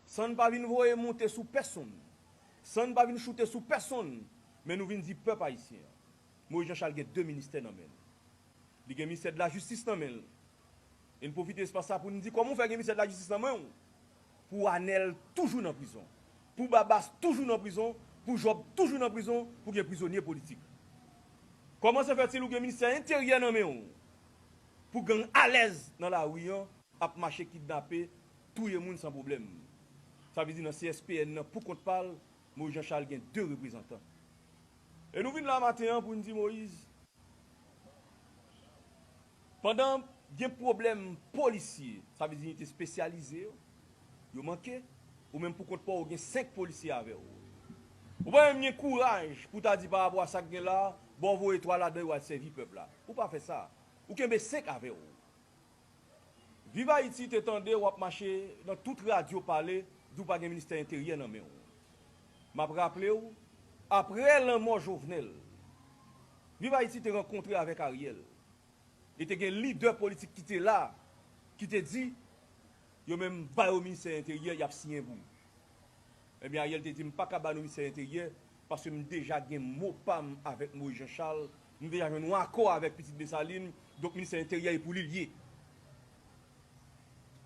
Sann pa vin voye moute sou pèsonn, sann pa vin choute sou pèsonn men nou vin di pèp ayisyen an, Moyiz Janchal gen 2 ministè nan men l. Li gen Ministè Dlajistis nan men l. E n pwofite espas sa pou n di kòman w fè gen Ministè Dlajistis nan men w pou Anèl toujou nan prizon, pou Babas toujou nan prizon, pou Jòb toujou nan prizon, pou gen prizonye politik? Kòman se fèt si l ou gen Ministè Enteryè nan men w pou gang alèz nan lari an ap mache kidnape Touye moun san pwoblèm. Sa vle di nan CSPN nan pou kont pa l, Moïse Jean Charles gen 2 reprezantan. E nou vin la maten an pou n di Moïse pandan gen pwoblèm polisye, sa vle di inite spesyalize yo, yo manke, ou menm pou kont pa w ou gen 5 polisye avè w. Ou pa menm gen kouraj pou w ta di pa rapò a sa k gen la, bon voye 3 ladan yo al sèvi pèp la. Ou pa fè sa. Ou kenbe 5 avè w. Viv Ayiti te tande wap mache nan tout radyo pale di w pa gen ministè enteryè nan men w. Map raple w aprè lanmò Jovenel, Viv Ayiti te rankontre avèk Ariel e te gen lidè politik ki te la ki te di yo menm ba yo ministè enteryè yap siyen pou Ebyen Ariel te di m paka ba nou ministè enteryè paske m deja gen mo pa m avèk Moïse Jean Charles Nou deja jwenn yon akò avèk pitit Desalin, donk ministè enteryè e pou li l ye.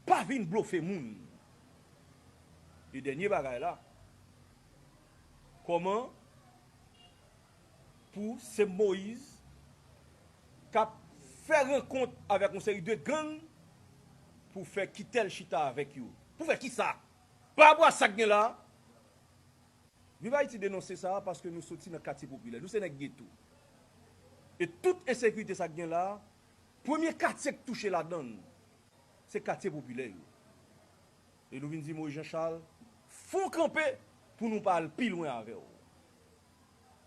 Pa vin blofe moun. E dènye bagay la, kòman pou se Moyiz k ap fè rankont avèk yon seri de gang pou fè Kitèl chita avèk yo? Pou fè kisa? Parapò a sa k gen la a? Viv Haïti denonse sa paske nou soti nan katye popilè. Nou se nèg geto. E tout ensekirite sa k gen la a, premye katye k touche ladan l, se katye popilè yo. E nou vin di Moïse Jean Charles, fon kanpe pou nou pa al pi lwen avè w.